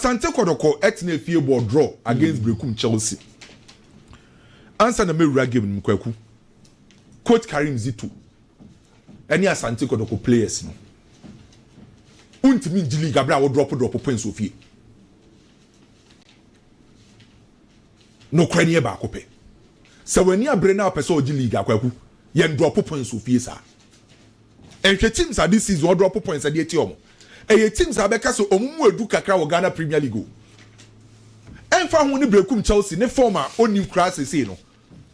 Asante Kɔtɔkɔ tenaa fie bɔɔ draw against Berekum Chelsea ansa na mawura game no mu, Kwaku. Coach Karim Zito ne Asante Kɔtɔkɔ players no, wontumi ngye league abere a wɔdrɔpo drɔpo points wɔ fie. Nokorɛ no yɛ baako pɛ. Sɛ w'ani abere na wopɛ sɛ ɔgye league a, Kwaku, yɛndrɔpo points wɔ fie saa. Nhwɛ teams a this season wɔ drop points a de atia wɔn. Ɛyɛ teams a bɛka sɛ wɔn mu adu kakra wɔ Ghana Premier League o. Ɛmfa ho ne Berekum Chelsea ne form a ɔnnim koraa seesei no,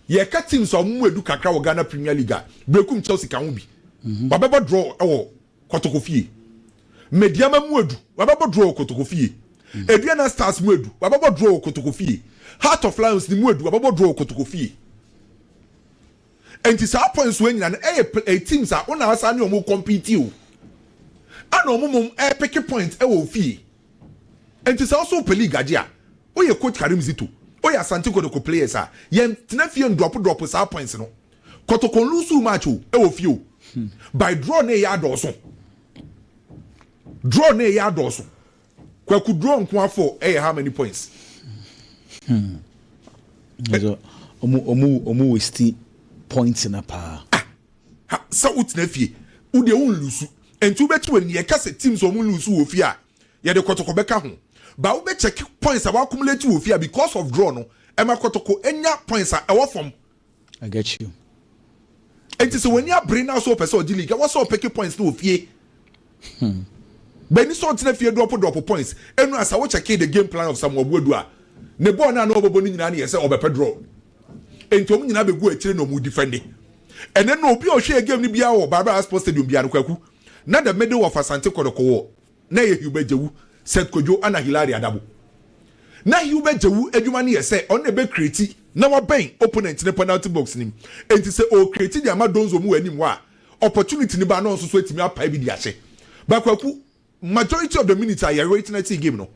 yɛreka teams a wɔn mu adu kakra wɔ Ghana Premier League a, Berekum Chelsea ka ho bi. Wabɛbɔ draw wɔ Kotokofie. Medeama mu adu, wabɛbɔ draw wɔ Kotokofie. Aduana Stars mu adu, wabɛbɔ draw wɔ Kotokofie. Heart of Lions ne mu adu, wabɛbɔ draw wɔ Kotokofie. Enti saa points wei nyina no ɛyɛ pl ɛyɛ teams a wo na asan ne ɔmo compete o. Ɛna ɔmo mom ɛɛpeke points ɛwɔ ofie. Enti sɛ wo so wo pɛ league agye a, wo yɛ coach Karim Zito, wo yɛ Asante Kotoko players a, yɛn tena fie ndrop drop saa points no. Kotoko nloosuu match o, ɛwɔ fie o. By draw na ɛyɛ adɔɔso. Draw na ɛyɛ adɔɔso. Kwaku draw nko afɔ ɛyɛ how many points. Hmm. Ɛsɛ ɔmo ɔmo ɔmo westi points na paa. Ah, sɛ wotena fie wode ɛwo nlusu ɛnti wobɛkyi wɔ ni ɛka sɛ teams ɔmo nlusu wɔ fie a yɛde kɔtɔkɔ bɛka ho ba wobɛkyɛke points a wakumulate wɔ fie a because of draw no ɛma kɔtɔkɔ enya points a ɛwɔ fam. I get you. Enti sɛ w'ani abere na sɛ ɔpɛ sɛ ɔgye league a, wɔ sɛ ɔpeke points no wɔ fie. Hmm. Bɛni sɛ ɔntena fie drɔpo drɔpo points. Enu a sɛ wokyɛkee the game plan of Samuel Boadu a, ne bɔɔl no a na ɔbɛbɔ no nyinaa no yɛ sɛ ɔbɛpɛ draw. Enti wɔn nyinaa bɛgu akyire na wɔn defende. Ɛnɛ no obi a ɔhwɛɛ game no biara wɔ Barbara Sports Stadium biara no, Kwaku, na the middle of Asante Kɔdɔkɔ wɔ na ɛyɛ Hubert Djawu, Seth Kodwo ɛna Hilary Adabo. Na Hubert Djawu adwuma no yɛ sɛ ɔno na ɛbɛ create na wabɛn opponent no penalty box no mu, enti sɛ ɔɔ create de ama Donzo mu wɔ anim hɔ a, opportunity no ba na ɔno nso so atumi apae bi de ahyɛ. But Kwaku, majority of the minutes a yɛ witnessee game no,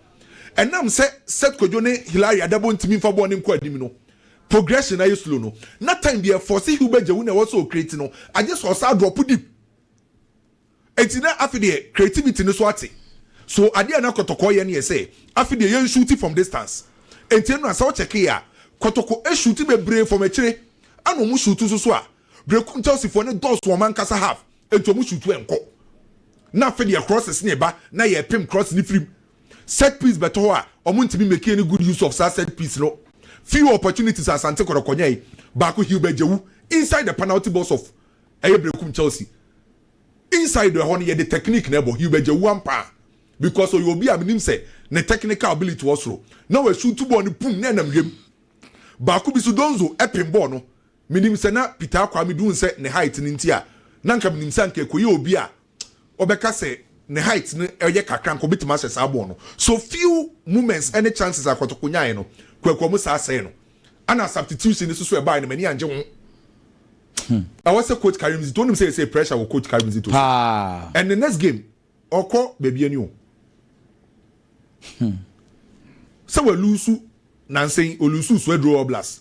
ɛnam sɛ Seth Kodwo ne Hilary Adabo ntumi mfa bɔɔl no nkɔ anim no, progression no ayɛ slow no, na time deɛ ɛforce Hubert Djawu na ɛwɔ sɛ ɔcreate no, agye sɛ ɔsan drop deep. Enti na afe deɛ creativity no so ate so adeɛ a na kɔtɔkɔ yɛ no yɛ sɛ afe deɛ yɛn shoot from distance enti ɛno na sɛ wo check yɛ a kɔtɔkɔ shoot bebree from akyire ɛna ɔmo shoot nso so a breku nchelsea foɔ no dɔɔso ɔmo ankasa half enti ɔmo shoot ɛnkɔ na afe deɛ crosses na ɛba na yɛ pem cross no firim set piece bɛtɔ hɔ a ɔmo ntumi make any good use of saa set piece no few opportunities a asante kɔtɔkɔ nyae baako Hilbert Djawu inside the penalty box of Ɛyɛ benkum Chelsea inside ɛhɔ no yɛde technique na ɛbɔ Hugh Bɛgya wu ampa a because ɔyɛ obi a menim sɛ ne technical ability wɔ soro na wa shoot bɔɔl no pum na ɛnam wiem baako bi so Donzo ɛpem bɔɔl no menim sɛ na Peter Akwame dun sɛ ne height no nti a na nka menim sɛ anka ɛkɔyɛ obi a wɔbɛka sɛ ne height no yɛ kakra anka obetumi ahyɛ saa bɔɔl no. So few moments ne chances a Kotoko nyae no, Kwaku Amusaa sɛe no? Ɛna substitution no nso so ɛbae no m'ani angye ho. Hmm. Ɛwɔ sɛ coach Karim Zito onim sɛ yɛsɛ pressure wɔ coach Karim Zito so. And the next game ɔkɔ baabi ani o. Hmm. Sɛ wɔlusu nansen olusu so aduro All Blacks.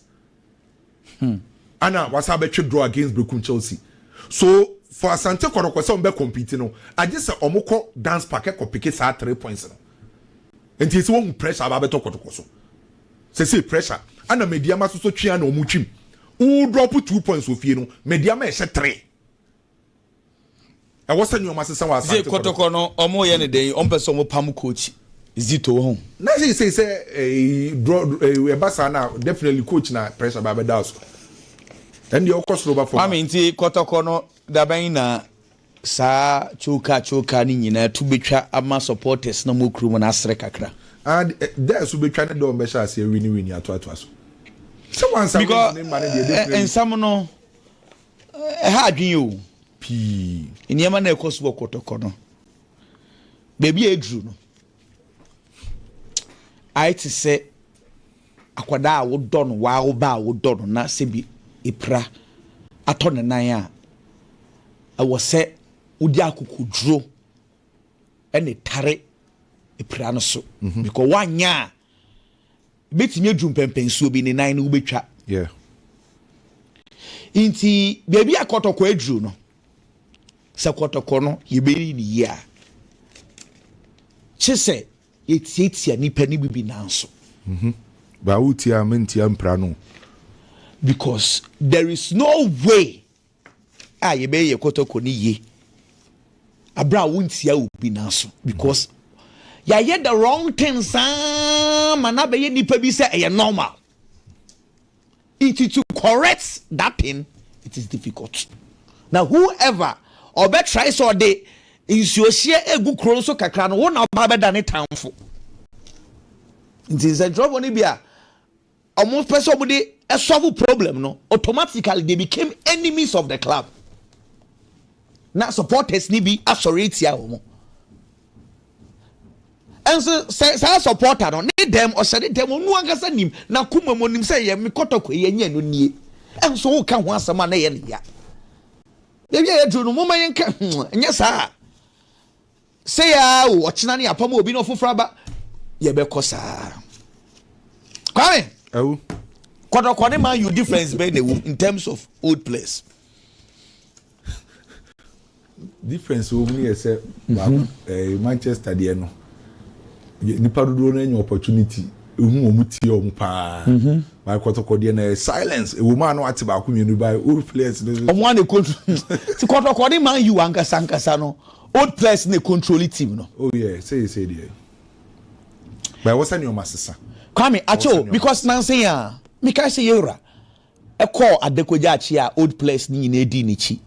Hmm. Ana wasan bɛtwe draw against Berekum Chelsea. So for Asante Kɔtɔkɔ sɛ wɔn bɛ compete no, agye sɛ wɔn kɔ Dance Park ɛkɔ peke saa three points no. Nti sɛ wɔhu pressure aba abɛtɔ Kɔtɔkɔ so. Sɛsɛ pressure ana Medeama soso twe ana wɔn twim. Wo drop two points wɔ fie no, Medeama ɛhyɛ three. ɛwɔ sɛ nneɛma sesa wɔ asante kɔtɔkɔ. kɔtɔkɔ no ɔmo yɛ ne dɛn yi ɔmo pɛ sɛ ɔmo pam coach zito ho. na sɛ sɛ sɛ eh, draw eh, ɛba saa na definitely coach na pressure ba bɛda so ɛndeɛ ɔkɔ soro ba fam a. maame nti kɔtɔkɔ no dabɛn na saa choka choka no nyinaa tu betwa ama supporters na ɔmo kurom no asere kakra. and eh, dɛ so betwa ne dɛ ɔmo bɛhyɛ aseɛ wini wini atoatoa so sɛ wansa wins ne mma ne deɛ definitely. nsɛm no Ɛha adwene yɛ o pii. Nneɛma na ɛkɔ so wɔ kɔtɔkɔ no. Baabi a ɛduru no, ayɛ te sɛ akwadaa a wodɔ no, waa wo ba a wodɔ no na sɛ bi epira atɔ ne nan a, ɛwɔ sɛ wodi akokoduro ɛna tare epira no so. Mhm. Because woanyɛ a, Ebetumi adu mpɛnpɛnsoɔ bi, ne nan no wobɛtwa. Yeah. Nti baabi a kɔtɔkɔ aduru no, sɛ kɔtɔkɔ no yɛbɛyi ne yie a, kye sɛ yɛtiatia nipa no bi bi nan so. Mhm. Baa wotia a mentia mpira no. Because there is no way a yɛbɛyɛ yɛ kɔtɔkɔ no yie abere a wontia obi n'aso because yɛayɛ the wrong thing saa ma na bɛyɛ nipa bi sɛ ɛyɛ normal nti to correct that thing it is difficult na whoever ɔbɛtrae sɛ ɔde nsuohyeɛ egu kuro nso kakra no wo na ɔba bɛda ne tanfo nti nsɛntwerɛfoɔ no bi a Ɔmo pɛ sɛ ɔmo de solve problem no, automatically they became enemies of the club. Na supporters ni bi asɔre atia ɔmo. Ɛnso sɛ saa supporter no ne dɛm ɔhyɛ ne dɛm ɔno ankasa nim na kuma mu nim sɛ yɛ me kɔtɔkɔ yɛ nyɛ no nie. Ɛnso wo ka ho asɛm a na yɛ ne ya. Yɛwie yɛ duro no mo ma yɛn ka hmm, nyɛ saa. Sei ara o, ɔkyena ne apam obi na ɔfoforɔ aba. Yɛbɛkɔ saa. Kwame. Awu. Kɔtɔkɔ ne Man U difference bɛn na ɛwɔ mu in terms of old players. difference wɔ mu no yɛ sɛ baako mhm. eh, Manchester deɛ no nipa dodoɔ no anya opportunity ehu wɔn tie wɔn paa mhm. bae kɔtɔkɔ deɛ na yɛ silence ewu maa no ate baako mmienu bae old players no. ɔmo a na ekotu ti kɔtɔkɔ ne man u ankasa ankasa no Old players na controli team no. Oh yeah seesei deɛ but ɛwɔ sɛ nneɛma sesa. Kwame akyɛ o because nansa yi a mekae sɛ yɛwura ɛkɔɔ adakogya akyi a old players no nyinaa dii n'akyi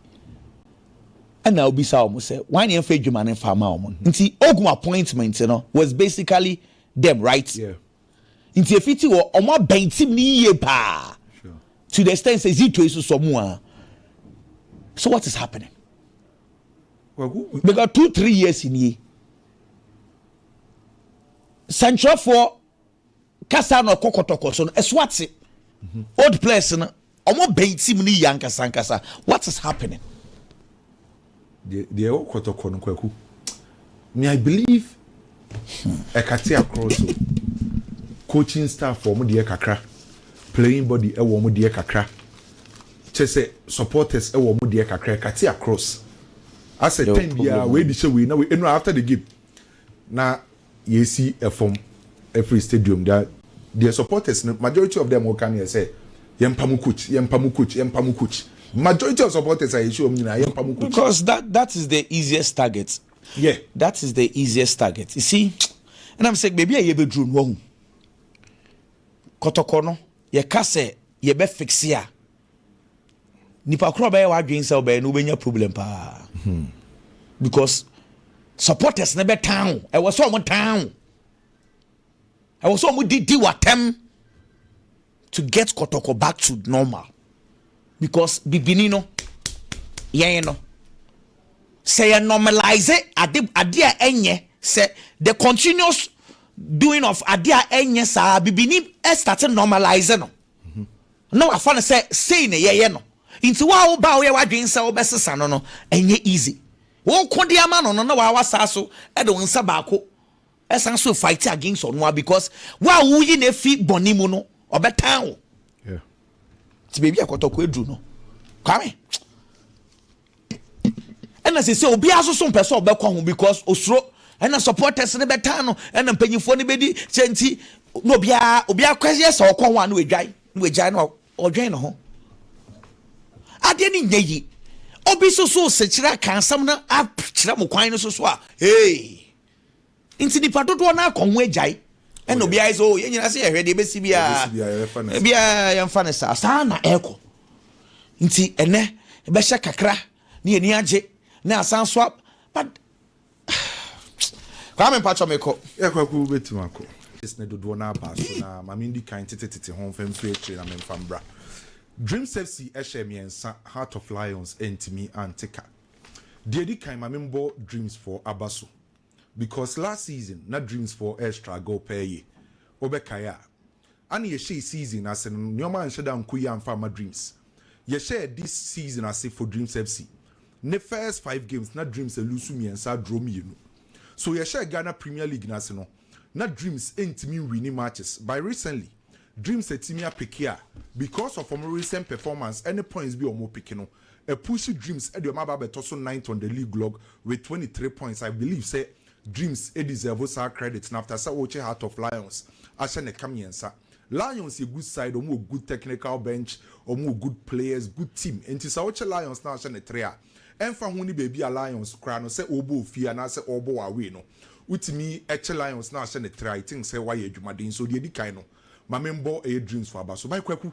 ɛna obisa wɔn sɛ wɔn ani ɛmfa adwuma no mfa ama wɔn nti ogun appointment no was basically them right nti efi ti wɔ wɔn abɛn team no yie paa to the extent sɛ zito yi soso mu a so what is happening. bɛka two three years nie sɛnkyerɛfoɔ kasa na ɔkɔ kɔtɔkɔ so no ɛso ate mhm. old players no wɔn bɛn team no yie ankasa ankasa what is happening. deɛ ɛwɔ kɔtɔkɔ no kwaku Me I believe ɛkate akorɔ so coaching staff wɔn deɛ kakra playing body ɛwɔ wɔn deɛ kakra kyɛ sɛ supporters ɛwɔ wɔn deɛ kakra ɛkate across asɛ time biara wei de hyɛ wei na wei ɛnu after the game na yɛsi ɛfam. Ɛfiri stadium da deɛ supporters no majority of them woka no yɛ sɛ yɛmpa mo coach yɛmpa mo coach yɛmpa mo coach majority of supporters a yɛhyia wɔn nyinaa yɛmpa mo coach. Because that that is the easiest target yeah that is the easiest target you see ɛna mi sɛ beebi a yɛbɛduru no wahu kɔtɔkɔ no yɛka sɛ yɛbɛ fixe a nipa korɔ bɛyɛ w'adwene sɛ ɔbɛyɛ no wobɛnya problem paa hmm. because supporters no bɛtan wo ɛwɔ sɛ ɔmo tan wo ɛwɔ sɛ wɔn didi wɔ atɛm to get kɔtɔkɔ back to normal because bibini no yɛn no sɛ yɛ normalize ade ade a ɛnyɛ sɛ the continuous doing of ade a ɛnyɛ saa bibini ɛstate normalize no na wafa no sɛ sei na yɛyɛ no nti wo a wo ba woyɛ wadwene sɛ wobɛsesa no no ɛnyɛ easy wokɔ de ama no no na wawa saa so ɛde wo nsa baako Ɛsan nso fight against ɔno a because wo a woyi na efi bɔnne mu no ɔbɛtan wo. Ti beebi a kɔtɔkɔ aduru no kwame. Ɛna sɛ sɛ obiara nso so mpɛ sɛ ɔbɛkɔ ho because osuro ɛna supporters no bɛtan no ɛna mpanyinfoɔ no bɛdi sɛ nti na obiara obiara kɔ yɛ sɛ ɔkɔ ho a na wadwan na wagyae na Ɔdwen ne ho. Adeɛ no nyɛ yi. Obi soso sekyerɛ aka asɛm no akyerɛ mo kwan no soso a hey. Nti nipa dodoɔ no akɔ ho agyae. Ɛna obi ayɛ sɛ o oh, yɛn nyinaa sɛ yɛhwɛ deɛ ɛbɛsi biara. Biara yɛmfa no saa. Saa na ɛkɔ. Nti ɛnɛ ɛbɛhyɛ kakra ne yɛni agye ne asan so but Kwame mpatsɔ me kɔ. Yeah kwaku wo bɛ tim akɔ. This ne dodoɔ no aba so na ma me ndi kan tete tete ho mfa mfiri akyire na me mfa mbra. Dream Sepsi ɛhyɛ mmiɛnsa Heart of Lions ɛntimi ante ka. Deɛ ɛdi kan ma me mbɔ Dreams foɔ aba so because last season na Dreams foɔ ɛrestruggle pɛɛ ye. Wo bɛ kae a. Ana yɛhyɛɛ season no ase no nnoɔma anhyɛ da ankɔ yie amfa amma Dreams. Yɛhyɛɛ this season ase for Dreams FC ne first five games na Dreams aluusu mmiɛnsa adraw mmienu. So yɛhyɛɛ Ghana Premier League no ase no na Dreams ntumi nwini matches but recently Dreams atumi apeke a because of wɔn recent performance ɛne points bi a wɔn peke no apushi Dreams de wɔn aba abɛtɔ so ninth on the league log with twenty three points. I believe sɛ Dreams deserve saa credit no after sɛ wokyɛ Heart of Lions ahyɛ ne ka mmiɛnsa. Lions yɛ good side, wɔn wɔ good technical bench, wɔn wɔ good players, good team nti sɛ wokyɛ Lions na ahyɛ no three a, ɛmfa ho ne baabi a Lions kura no sɛ ɔrebɔ wɔ fie anaasɛ ɔrebɔ wɔ away no, wotumi kyɛ Lions na ahyɛ no three a, I think sɛ woayɛ adwumaden. So deɛ ɛdi kan no, ma menbɔ ɛyɛ Dreams fo aba so. By Kwaku.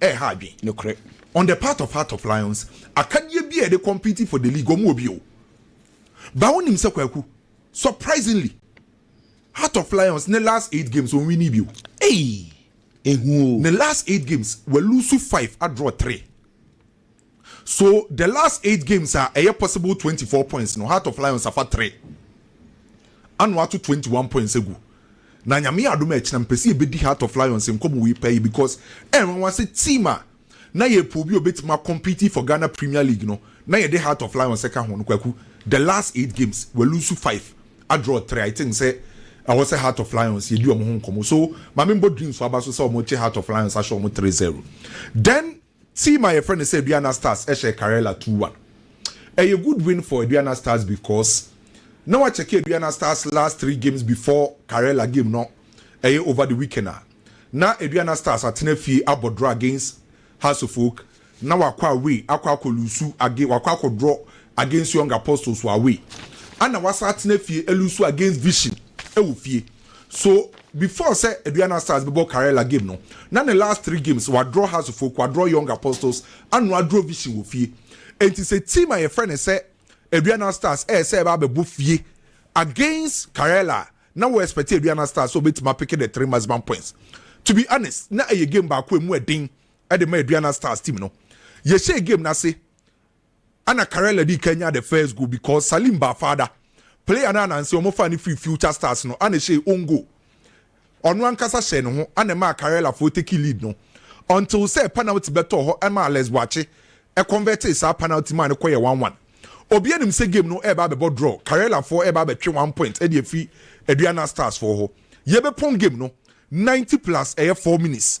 ɛha adwen. Nokorɛ, on the part of Heart of Lions, akadeɛ biara a yɛde compete for the league, wɔn wɔ bi o. But wonim sɛ Kwaku, surprisingly, Heart of Lions ne last eight games wɔn winni bi o. Ei! Ehu o. Ne last eight games, wa lose five, a draw three. So the last eight games a ɛyɛ possible twenty four points no Heart of Lions afa three ana wɔato twenty one points agu na nyame yɛ adom a ɛkyena mpɛ sɛ yɛbɛdi Heart of Lions nkɔmmɔ wei paa yi because ɛnwanwa sɛ team a na yɛ po bi a ɔbɛtumi akɔmpiti for Ghana Premier League no na yɛde Heart of Lions ɛka ho no kwaku the last eight games wɔalusu five adraw three I think sɛ ɛwɔ sɛ Heart of Lions yɛdi wɔn ho nkɔmmɔ so maame mbɔ dreams aba so sɛ wɔn kye Heart of Lions ahyɛ wɔn three zero then Team a yɛfrɛ no sɛ Aduana Stars hyɛɛ Karela two one. Ɛyɛ good win for Aduana Stars because na wɔakyɛke Aduana Stars last three games before Karela game no, ɛyɛ over the weekend a na Aduana Stars atena fie abɔ draw against Hasofolk na wakɔ away akɔ akɔ luusu age wakɔ akɔ draw against Young Apostles wɔ away ɛna wasan atena fie aluusu against Vision wɔ fie. So before sɛ Aduana Stars bɛbɔ Karela game no, na ne last three games wadrɔ Hasofoɔ, kwadrɔ Young Apostles, ano adrɔ Vision wɔ fie. Enti sɛ team a yɛfrɛ no sɛ Aduana Stars ɛyɛ sɛ ɛba abɛbɔ fie against Karela a, na wo expect Aduana Stars sɛ wɔbɛtumi apeke the three maximum points. To be honest, na ɛyɛ game baako a ɛmu ɛden de ma Aduana Stars team no. Yɛhyɛɛ game no ase. Ana Carella dii kan nyaa the first goal because Salim Ba Fada, player no a nanse wɔfaa no firii Future Stars no, ana ɛhyɛɛ own goal. Ɔno ankasa hyɛɛ ne ho, ana ɛmaa Carellafoo tekii lead no until sɛ panalty bɛtɔɔ hɔ ɛmaa Alex Boakye convertee saa panalty maa no kɔyɛɛ one one. Obiara nim sɛ game no reba abɛbɔ draw, Carellafoo reba abɛtwe one point de afiri Aduana Starsfoo hɔ. Yɛbɛpɔn game no ninety plus ɛyɛ four minutes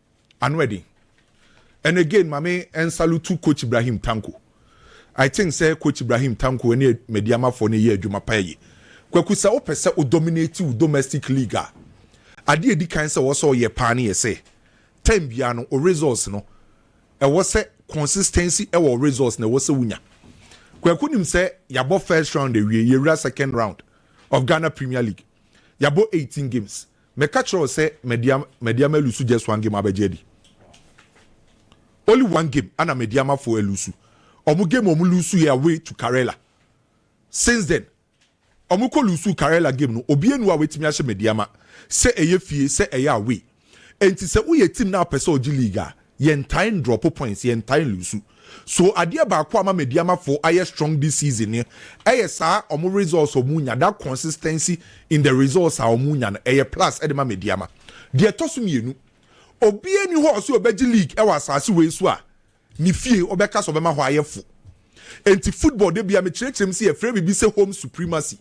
Ano ɛden. And again ma me nsalutu Coach Ibrahim Tanko. I think sɛ Coach Ibrahim Tanko ɛne Medeamafoɔ no ɛyɛ adwuma paa yie. Kwaku sɛ wo pɛ sɛ wo dominate wo domestic league a, adeɛ ɛdi kan sɛ ɛwɔ sɛ ɔyɛ paa no yɛ sɛ, time biara no wo results no ɛwɔ sɛ consistency ɛwɔ wo results no ɛwɔ sɛ wo nya. Kwaku nim sɛ yɛabɔ first round awie, yɛwura second round of Ghana Premier League. Yɛabɔ 18 games. Meka kyerɛ wo sɛ madi ama madi ama elusu just one game abɛgye adi only one game ana madi ama fo elusu ɔmo game ɔmo lusu yɛ away to Karela since then ɔmo kɔ lusu Karela game no obi enu a wetumi ahyɛ madi ama sɛ ɛyɛ fie sɛ ɛyɛ away enti sɛ woyɛ team na apɛ sɛ ɔgye league a Yɛntae ndrɔpo points, yɛntae nlusu. So adeɛ baako a ama Medeamafoɔ ayɛ strong this season no yɛ saa wɔn results a wɔnya, that consistency in the results a wɔnya no, ɛyɛ plus de ma Medeama. Deɛ ɛtɔ so mmienu, obiara nni hɔ a ɔse ɔbɛgye league wɔ asase wei so a ne fie ɔbɛka sɛ ɔbɛma hɔ ayɛ fo. Enti football da biara mekyerɛkyerɛ mu sɛ yɛfrɛ biribi sɛ home supremacy.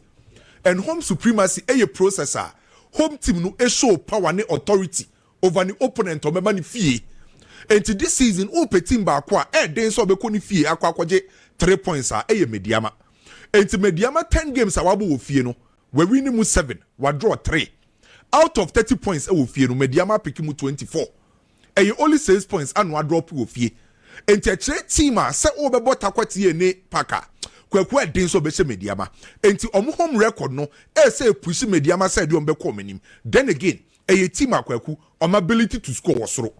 And home supremacy yɛ process a home team no show power ne authority over ne opponent a ɔbɛba ne fie. Enti this season wopɛ team baako a ɛyɛ den sɛ ɔbɛkɔ ne fie akɔ akɔgye three points a, ɛyɛ Medeama. Enti Medeama ten games a wabɔ wɔ fie no, wawini mu seven, wadraw three. Out of thirty points ɛwɔ fie no, Medeama apeke mu twenty four. Ɛyɛ only six points a na wadrɔpe wɔ fie. Enti ɛkyerɛ team a sɛ wobɛbɔ Tarkwa TA ne Park a, Kwaku ɛyɛ den sɛ ɔbɛhyɛ Medeama. Enti wɔn home record no ɛyɛ sɛ ɛpushi Medeama sɛ ɛdeɛ wɔbɛkɔ wɔn anim. Then again, Ɛyɛ team a Kwaku ɔma ability to score wɔ soro.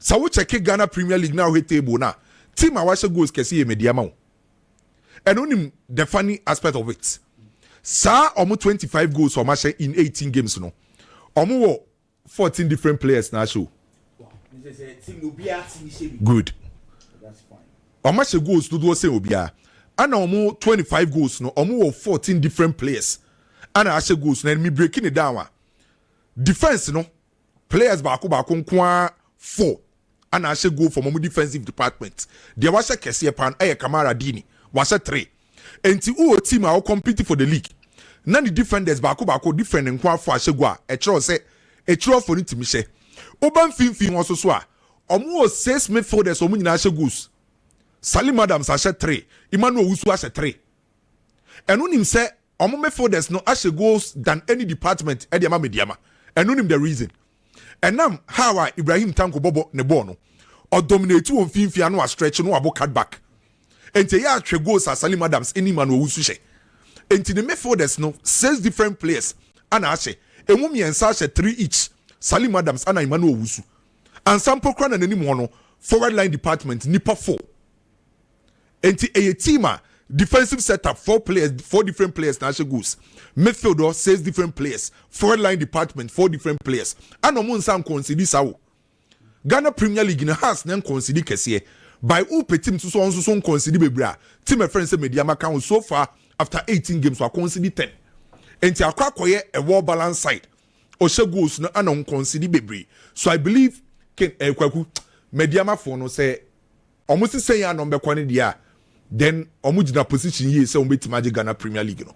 Sɛ wo check Ghana Premier League na wohwɛ table no a, team a wahyɛ goals kɛse yɛ Medeama o. And wonim the funny aspect of it, saa ɔmo twenty five goals a ɔmo ahyɛ in eighteen games no, ɔmo wɔ fourteen different players na ahyɛ o. Good. Ɔmo ahyɛ goals dodoɔ sɛn obiara. Ɛna ɔmo twenty five goals no, ɔmo wɔ fourteen different players ana ahyɛ goals na me break ne down a defence no players baako baako nko ara four ana ahyɛ goal from ɔmo defensive department deɛ wahyɛ kɛseɛ paa no ɛyɛ Kamara Dini wahyɛ three nti wowɔ team a wɔ compete for the league na ne defenders baako baako different nko ara four ahyɛ goal a ɛkyerɛw sɛ akyirɔfoɔ no tumi hyɛ woba mfimfini hɔ so so a ɔmo wɔ six midfielders ɔmo nyinaa ahyɛ goals Salim Adams ahyɛ three Emmanuel Owusu ahyɛ three ɛno nim sɛ Ɔmo me folders no ahyɛ goals than any department de ama me diama ɛno nim the reason ɛnam how a Ibrahim Tanko bɔbɔ ne bɔɔl no ɔ dominate wɔ mfinfin ano a stretch no abo cut back nti ɛyɛ a hwɛ goals a Salim Adams ne Emmanuel Owusu hyɛ nti ne me folders no six different players ana ahyɛ emu mmiɛnsa ahyɛ three each Salim Adams ana Emmanuel Owusu ansa mpo kora na n'anim hɔ no forward line department nipa four. Enti ɛyɛ team a defensive set up four players four different players na ahyɛ goals midfield hɔ six different players forward line department four different players ana wɔn nsa nkɔnsidi saa o Ghana Premier League na Hearts na nkɔnsidi kɛseɛ by wopɛ team nso so wɔn nso so nkɔnsidi bebree a team ɛfrɛ nsɛ Mediama ka ho so far after eighteen games wakɔnsidi ten enti akɔ akɔyɛ a well balanced side ɔhyɛ goals no ana nkɔnsidi bebree so I believe ken ɛkwaku eh, Mediama fo no sɛ Ɔmo se sɛ yɛ a na ɔmo bɛkɔ ne deɛ a then ɔmo gyina position yie sɛ ɔmo bɛtumi agye Ghana Premier League no.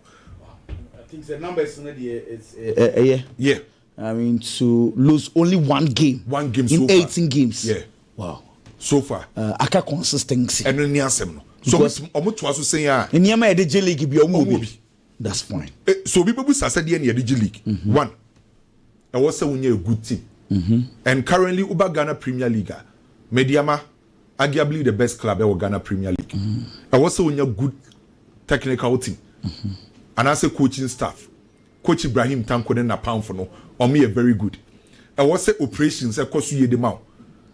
I think sɛ numbers no deɛ it's ɛyɛ. Yeah. I mean to lose only one game. One game so far. In eighteen games. Yeah. Wow. So far. Uh, aka consistency. Ɛno ni asɛm no. So ɔmo toa so sɛn a. Nneɛma yɛde gye league bi ɔmo wɔ bi. That's point. Eh, so obi bɛbu sa sɛ deɛ na yɛde gye league. Mm -hmm. One, ɛwɔ sɛ wonya a good team. Mm -hmm. And currently woba Ghana Premier League a, Mediama, arguably the best club ɛwɔ Ghana Premier League. Mm -hmm. Ɛwɔ sɛ wonya good technical team. Mm -hmm. Anaasɛ coaching staff. Coach Ibrahim Tanko ne Napamfo no, wɔn yɛ very good. Ɛwɔ sɛ operations ɛkɔ so yie de ma wo.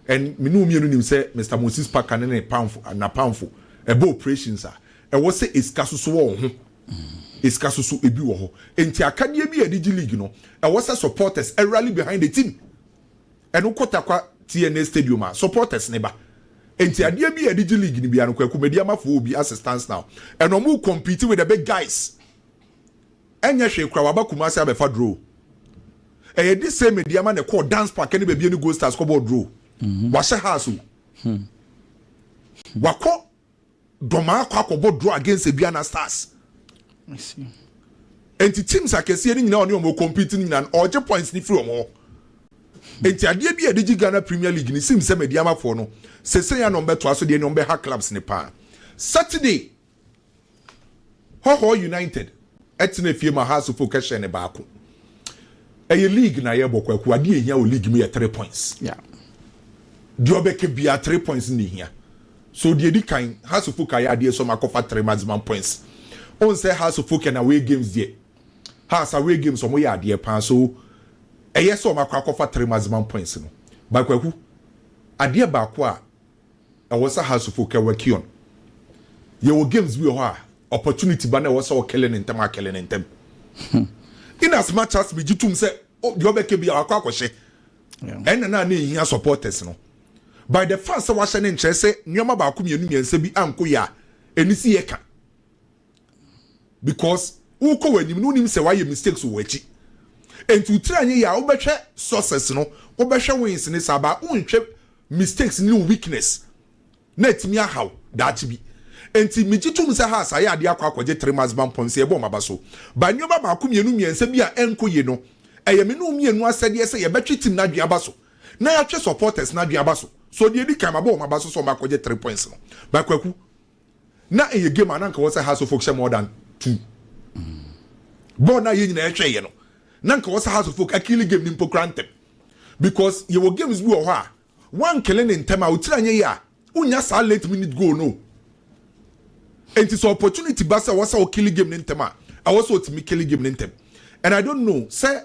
And mene wo mmienu nim sɛ Mr. Moses Parker ne ne Pamfo, Napamfo, ɛbɔ operations a, Ɛwɔ sɛ esika soso wɔ wo ho, esika soso ebi wɔ hɔ. Enti akadeɛ bi a yɛde gye league no, ɛwɔ sɛ supporters rally behind the team. Ɛno kɔ Tarkwa TNA stadium a, supporters no ba. Enti adeɛ bi a yɛde gye league no biara no, Kwaku Mediamafoɔ wɔ bi as it stands now. And wɔn re compete with the big guys. Ɛnyɛ hwee koraa, wɔaba Kumasi abɛfa draw. Ɛyɛ this same Mediama na ɛkɔɔ Dance Park ne baabi ne Gold Stars kɔbɔɔ draw. Wahyɛ house o. Wakɔ dɔmaa kɔ akɔbɔ draw against Aduana Stars. Nti teams akɛseɛ no nyinaa ɔne wɔn compete no nyinaa ɔregye points no firi wɔn hɔ. Nti adeɛ bi a yɛde gye Ghana Premier League no sim sɛ Medeamafoɔ no sesei a na wɔbɛtoa so deɛ ne wɔbɛha clubs no paa. Saturday. Hɔhoɔ United tena afie ma Haasofo kɛhyɛ ne baako. Ɛyɛ league na yɛbɔ kwaku. Adeɛ a ehia wɔ league mu yɛ three points. Deɛ ɔbɛka biara three points na ehia. So deɛ edi kan Haasofo ka yɛ adeɛ sɔm akɔfa three maximum points. Ohun sɛ Haasofo kɛ na away games deɛ Haas away games wɔn yɛ adeɛ paa so ɛyɛ sɛ wɔn akɔ akɔfa three maximum points no. Ba kwaku adeɛ baako a Ɛwɔ sɛ house folk a work on. Yɛwɔ games bi wɔ hɔ a opportunity ba na ɛwɔ sɛ wo kele no ntɛm a kele no ntɛm. In as much as me gye tom sɛ deɛ ɔbɛka bi a wakɔ akɔhyɛ ɛna na na ehia supporters no. By the fact sɛ wahyɛ no nkyerɛ sɛ nneɛma baako mmienu mmiɛnsa bi anko yɛ a ɛni si yɛ ka. because wokɔ w'anim no wonim sɛ wayɛ mistakes wɔ w'akyi nti wo tiri anyɛ yie a wobɛhwɛ success no wobɛhwɛ wins ne saa baa wonhwɛ mistakes ne wo weakness na atumi ahaw daakye bi nti megye tom sɛ has ayɛ adeɛ akɔ akɔgye three months ban pɔn sɛ yɛbɔ maba so ba nneɛma baako mmienu mmiɛnsa bi a ɛnkɔ yie no ɛyɛ me ne wo mmienu asɛdeɛ sɛ yɛbɛtwe team no adwene aba so na yɛatwe supporters no adwene aba so so deɛ ɛdi kan mabɔ wɔn aba so sɛ wɔn akɔgye three points no ba kwaku Na ɛyɛ game a na nka wɔ sɛ Hearts of Oak hyɛ more than two. Bɔɔl no a yɛn nyinaa ɛhwɛ yɛ no, na nka wɔ sɛ Hearts of Oak akili game no mpo kora ntɛm. Because yɛwɔ games bi wɔ hɔ a, woankele no ntɛm a, otiri anyɛ yie a, wonnya saa late minute goal no. Enti sɛ opportunity ba sɛ wɔ sɛ wokili game no ntɛm a, ɛwɔ sɛ otumi kili game no ntɛm. And I don't know sɛ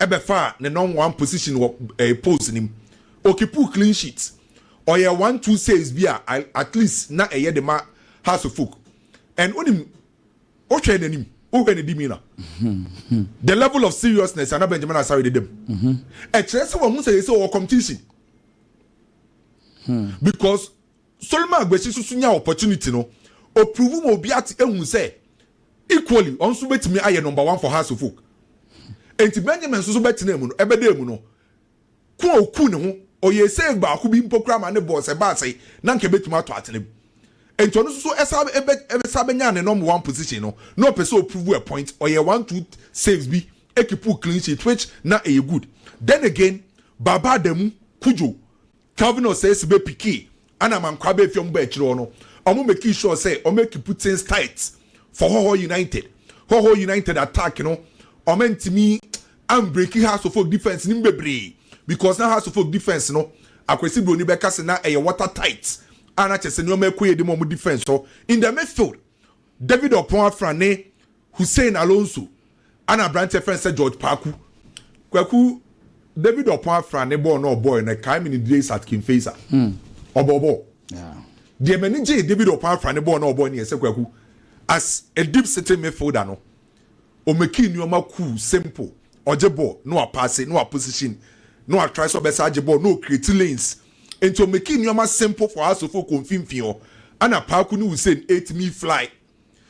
bɛfaa ne nɔmb one position wɔ polls no mu. Okipu clean sheet. Ɔyɛɛ one two says bi a at least na ɛyɛ de ma House of Folk. And wonim, wohwɛɛ n'anim, wohwɛɛ ne demeanour, the level of seriousness a na Benjamin Asare de da mu, ɛkyerɛ sɛ wahu sɛ seesei ɔwɔ competition. Because Sorry ma Aguesi nso so nyaa opportunity no, o prove ma obi ate ehu sɛ equally ɔno nso betumi ayɛ number one for Hearts of Oak. Enti Benjamin nso so bɛtenaa mu no, ɛbɛdaa mu no, ko a oku ne ho, ɔyɛɛ save baako bi mpo koraa ma ne boss ɛbaa sɛ na anka ebetumi atɔ atena mu. Enti ɔno nso so ɛsa ɛbɛ ɛbɛsa bɛnyaa ne number one position no, na ɔpɛ sɛ o prove a point, ɔyɛɛ one two saves bi ekipuu clean sheet which na ɛyɛ good. Then again, Baba Adamu, Cudjoe, Kavanaugh sɛ esi bepikii ana ma nkwaa befi ɔmo ba ekyir hɔ no, ɔmo mekii sure sɛ ɔmo ekipu tins tight for hɔhɔ United. Hɔhɔ United attack no ɔmo enntumi ammbreaki House of Oak defence no mu beberee because na House of Oak defence no Akwasi Broni bɛka se na ɛyɛ water tight a na kyerɛ sɛ neɔma ɛkɔ yie de ma ɔmo defence hɔ in the midfield David Ɔpɔn Afra ne Hussein Alonso a na aberanteɛ frɛ no sɛ George Paku. Kwaku, David Ɔpɔn Afra ne bɔɔl no a ɔbɔɔe no ɛkae me ne Direisat Kimfeisa. Ɔbɔɔ bɔɔl. Deɛ m'ani gyee David Ɔpɔn Afra ne bɔɔl no a ɔbɔɔe no yɛ sɛ Kwaku, as a deep sitting midfielder no, ɔmakii nnoɔma cool, simple. Ɔgye bɔɔl na wapaase, na waposition, na watry sɛ ɔbɛsan agye bɔɔl, na ɔcreate lanes. Nti ɔmakii nnoɔma simple for us of kɔ mfimfini hɔ. Ɛna Paku ne Hussein ɛtumi fly.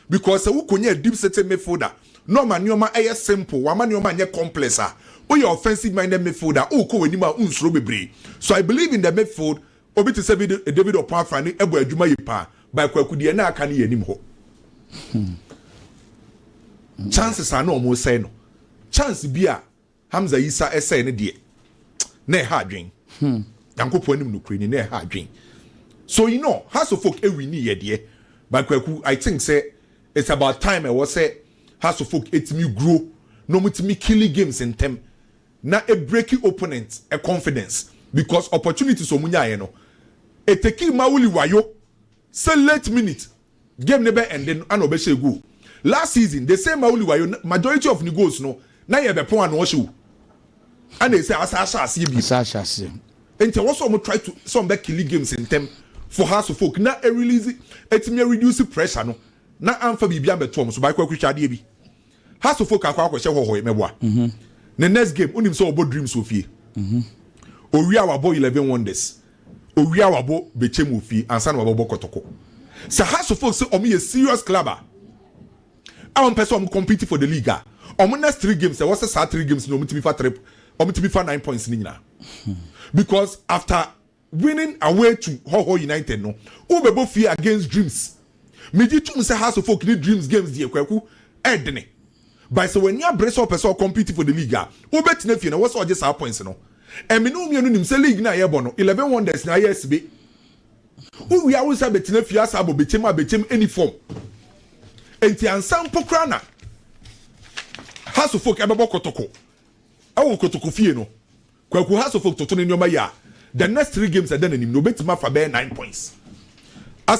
Because sɛ wo konyaa deep sitting midfielder na ɔma nneɛma ɛyɛ simple, wama nneɛma anyɛ complex a, woyɛ offensive minded midfielder, wokɔ w'anim a wonsuro bebree. So I believe in the midfield, obi te sɛ bi David Opoafra ne ɛbɔ adwuma yie paa, by Kwaku deɛ na aka no yɛ anim hɔ. Chances a na wɔn resɛe no, chance bi a. Hamza Isa ɛsɛe no deɛ na ɛha adwen Nyankopɔn anim nokorɛ ni na ɛha adwen so you know Hearts of Oak ɛwini yɛ deɛ but Kwaku I think sɛ it's about time ɛwɔ sɛ Hearts of Oak ɛtumi grow na ɔmo tumi killi games ntɛm na ɛbreki opponent confidence because opportunities ɔmo nyaeɛ no ɛteki ma wuli wayo sɛ late minute Game no bɛ ɛnde no ana ɔbɛhyɛɛ goal last season the same Mauli wayo na majority of ne goals no na yɛ bɛpon ano ɔhyɛ o ana ɛsɛ asa ahyɛ aseɛ bio Asa ahyɛ aseɛ. nti ɛwɔ sɛ ɔmo try to sɛ ɔmo bɛ kili games ntɛm for Hearts of Oak na ɛrelease ɛtumi ɛreduce pressure no na anfa biribi ambɛto ɔmo so by Kwaku hwɛ adeɛ bi Hearts of Oak akɔ akɔhyɛ hɔhɔe mɛboa ne next game wonim sɛ ɔbɔ Dreams wɔ fie owie a wabɔ Eleven Wonders Owia wabɔ bɛkyɛm wɔ fie ansa na wabɛbɔ kɔtɔkɔ. Sɛ Hearts of Oak sɛ wɔn yɛ serious club a, a wɔn pɛ sɛ wɔn compete for the league a, wɔn next three games ɛwɔ sɛ saa three games no wɔn tumi fa three wɔn tumi fa nine points no nyinaa. Because after winning away to Hɔhɔ United no, wobɛbɔ fie against Dreams. Megye tom sɛ Hearts of Oak ne Dreams games deɛ Kwaku ɛɛdene. But sɛ w'ani abere sɛ ɔpɛ sɛ ɔ compete for the league a, wobɛtena fie na ɛwɔ sɛ ɔgye saa points no. Ɛme ne wo mmienu nim sɛ league no a yɛbɔ no, Eleven Wonders na ayɛ asibe. Wowie a wonsa bɛtena fie asa abɔ bɛkyɛm a bɛkyɛm ɛni fam. Enti ansa mpo koraa na Hasofolk ɛbɛbɔ kotoko ɛwɔ kotoko fie no, Kwaku Hasofolk toto ne nneɛma yie a, the next three games a ɛda n'anim no, ɔbɛtumi afa bɛyɛ nine points.